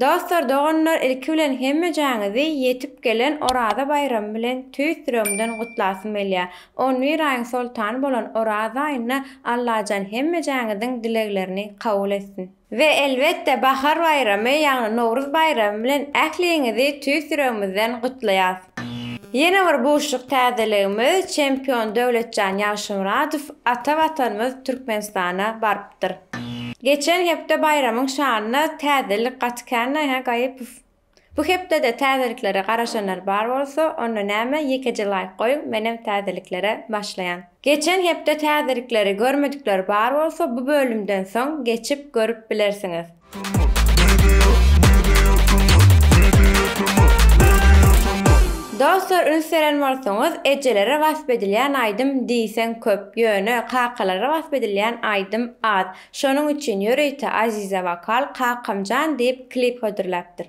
Dostlar doganlar ilki bilen hemmejaňizi ýetip gelen Oraza baýramy bilen tüýs ýüregimden gutlasym gelýär. On bir aýyň soltany bolan Oraza aýynda Allajan hemmejaňiziň dileglerini kabul etsin. We elbetde Bahar baýramy ýagny Nowruz baýramy bilen ähliňizi tüýs ýüregimizden gutlaýas. Ýene bir buşluk täzeligimiz çempion Döwletjan Ýagşymyradow ata watanymyz Türkmenistana barypdyr. ýatypdyr. Geçen hepde baýramyň şanyna täzelik gaty känmi, hä, Gaýypow? Bu hepde-de täzeliklere garaşanlar bar bolsa, onda näme, ýekeje laýk goýuň, menem täzeliklere başlaýan. Geçen hepde täzelikleri görmedikler bar bolsa, bu bölümden soň geçip görüp bilersiňiz. Dostlar üns beren bolsaňyz ejelere wasp edilýän aýdym diýseň köp ýöne kakalara wasp edilýän aýdym az şonuň üçin ýörite Aziza wokal kakamjan diýip klip hödürläpdir.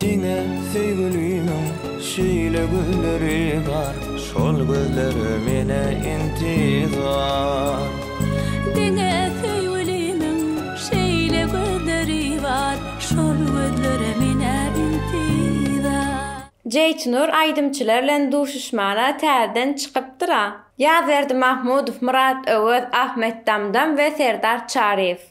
Diňe söýgülimiň şeýle gözleri bar, şol gözler mene intizar. Diňe söýgülimiň şeýle gözleri bar, şol gözler mene intizar. Jeýtnur aýdymçylar bilen duşuşmana täzeden çykypdyra. Ýazberdi Mahmudow, Myrat Öwez, Ahmet Damdam we Serdar Çaryýew.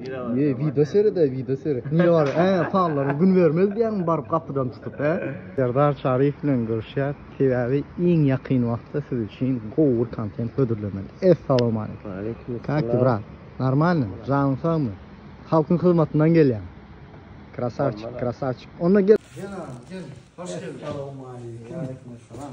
Ýe, wideo seret-ä, wideo seret. Nire barýaň? Hä, pallaryň gün bermez diýýäňmi baryp gapydan tutup, hä? Serdar Çaryýew bilen görüşýär, sebäbi iň ýakyn wagtda siz üçin gowy bir kontent hödürlemeli. Essalawmaleýkum. Waleýkum essalam. Kak ty, brat? Normalny? Janyň sagmy? Halkyň hyzmatyndan gelýäň. Krasawçik, krasawçik. Onda gel. Gel agam, gel. Hoş geldiň. Essalawmaleýkum. Waleýkum essalam.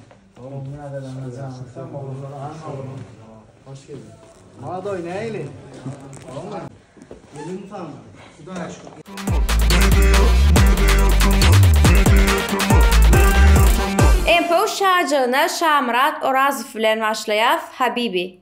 Info şajygyna Şamyrat Orazow bilen başlaýas Habibi.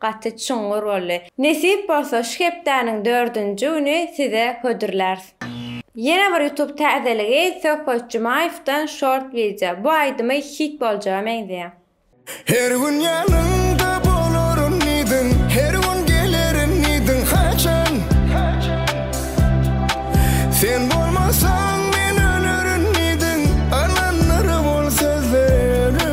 Gaty çuňňur boldy. Nesip bolsa şu hepdäniň dördünji güni size hödürlärs. Ýene bir YouTube täzeligi Söhbet Jumaýewden short wideo. Bu aýdymy hit boljaga meňzeýär. Her gün ýanyňda bolaryn diýdiň, Her gün gelerin diýdiň, haçan? Sen bolmasaň men ölerin diýdiň, Alandyr bol sözleri.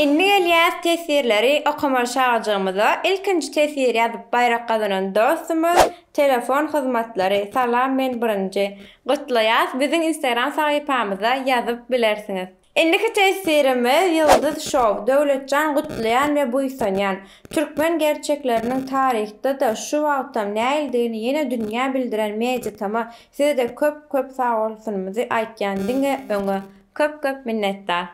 Indi gelýäs teswirleri okamaly çagajygymyza ilkinji teswir ýazyp baýrak gazanan dostumyz telefon hyzmatlary salam men birinji gutlaýas biziň instagram sahypamyza ýazyp bilersiňiz. Indiki tesirimiz Ýyldyz Show, Döwletjan gutlaýan we buýsanýan. Türkmen gerçekleriniň taryhda-da, şu wagtam näildigini ýene dünýä bildiren Mediatama size-de köp köp sagbolsunymyzy aýtýan diňe öňe. Köp köp minnetdar.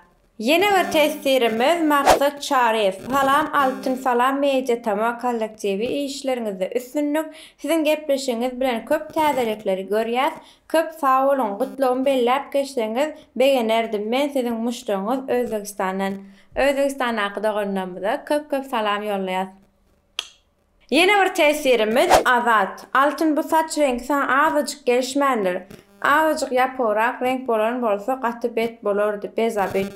Ýene bir tesirimiz Maksat Çaryýew, Salam Altyn Salam Mediatama kollektiwi işleriňizde üstünlik, siziň gepleşigiňiz bilen köp täzelikleri görýäs, Köp sag boluň, gutlagymy belläp geçseňiz begenerdim, men siziň muşdagyňyz Özbegistandan. Özbegistandaky doganlarymyza köp köp salam ýollaýas. Ýene bir tesirimiz Azat. Altyn bu saç reňki saňa azajyk gelişmändir. Azajyk ýapygrak reňk bolan bolsa gaty bet bolardy, bezabi.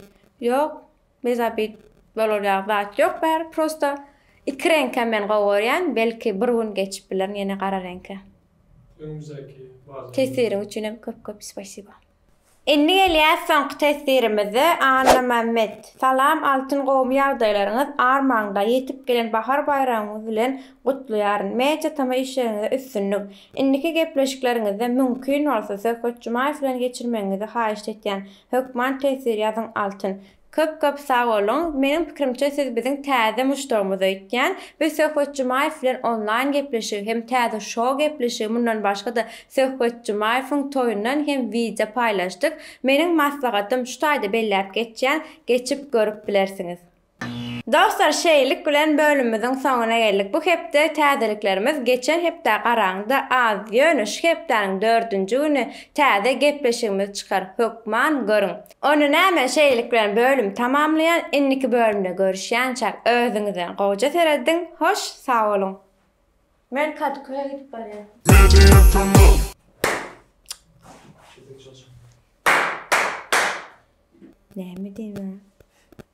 Ýok, Mezabit bolarýak zat ýok bäri prosta iki reňkem men gowy görýän belki bir gün geçip bilerin ýene gara reňke. Öňümizdäki bazar. Tesiriň üçin hem köp köp spasiba. Indi gelýäs soňky tesirimize Annamämmet Salam Altyn gowumy ýagdaýlaryňyz armaňda ýetip gelen bahar baýramyňyz bilen gutlaýaryn Media tama işleriňizde üstünlik Indiki gepleşikleriňizde müňkin bolsa Söhbet Jumaýew bilen geçirmegiňizi haýyşt etýän Hökman teswir ýazyň Altyn. Köp köp sag boluň. Meniň pikirimçe siz biziň täze muşdagymyz öýtýän. Biz Söhbet Jumaýew bilen onlaýn gepleşigi hem täze şou gepleşigi mundan başgada Söhbet Jumaýewiň toýundan hem wideo paýlaşdyk. Meniň maslahatym şu taýda belläp geçýän, geçip görüp bilersiňiz. Dostlar şeýlik bilen bölümimiziň soňuna geldik. Bu hepde täzeliklerimiz geçen hepdä garaňda az, ýöne şu hepdäniň dördünji güni täze gepleşigimiz çykar, hökman görüň. Onda näme şeýlik bilen bölüm tamamlaýan indiki bölümde görüşýänçäk özüňizden gowja serediň hoş sagboluň. Men kaduköýe gidip barýan. Media promo. Näme diýýäň?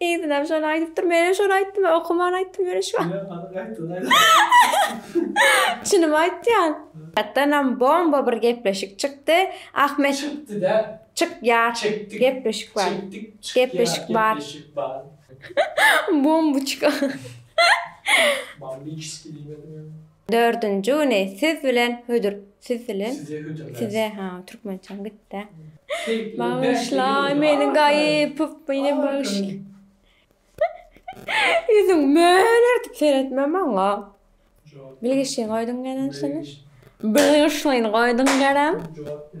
Yzynam şony aýdypdyr. Menem şony aýtdym we okaman aýtdym ýöne şu wagt. Ýok, alyk aýtdyň aýdym. Çynymy aýtýan. Ýatdanam bomba bir gepleşik çykdy. Ahmet. Çykdy däl. Çyk ýar. Çekdik. Gepleşik bar. Çekdik. Çyk ýar. Gepleşik bar. Gepleşik bar. Bombuçka. Bombiçski diýmedimiň. Dördünji güni siz bilen hödür siz bilen Size hödürläs. size ha türkmençem gitdi. Keýpli, Bagyşla bäşe gidip meni otur. gaýypyp meni Ay, bagyşla. gülüm. Ýüzüň mölertip seretme maňa. Jogap. Bilgiçliň goýduň gelençini. Bilgiçliň goýduň gerem. Jogap ber.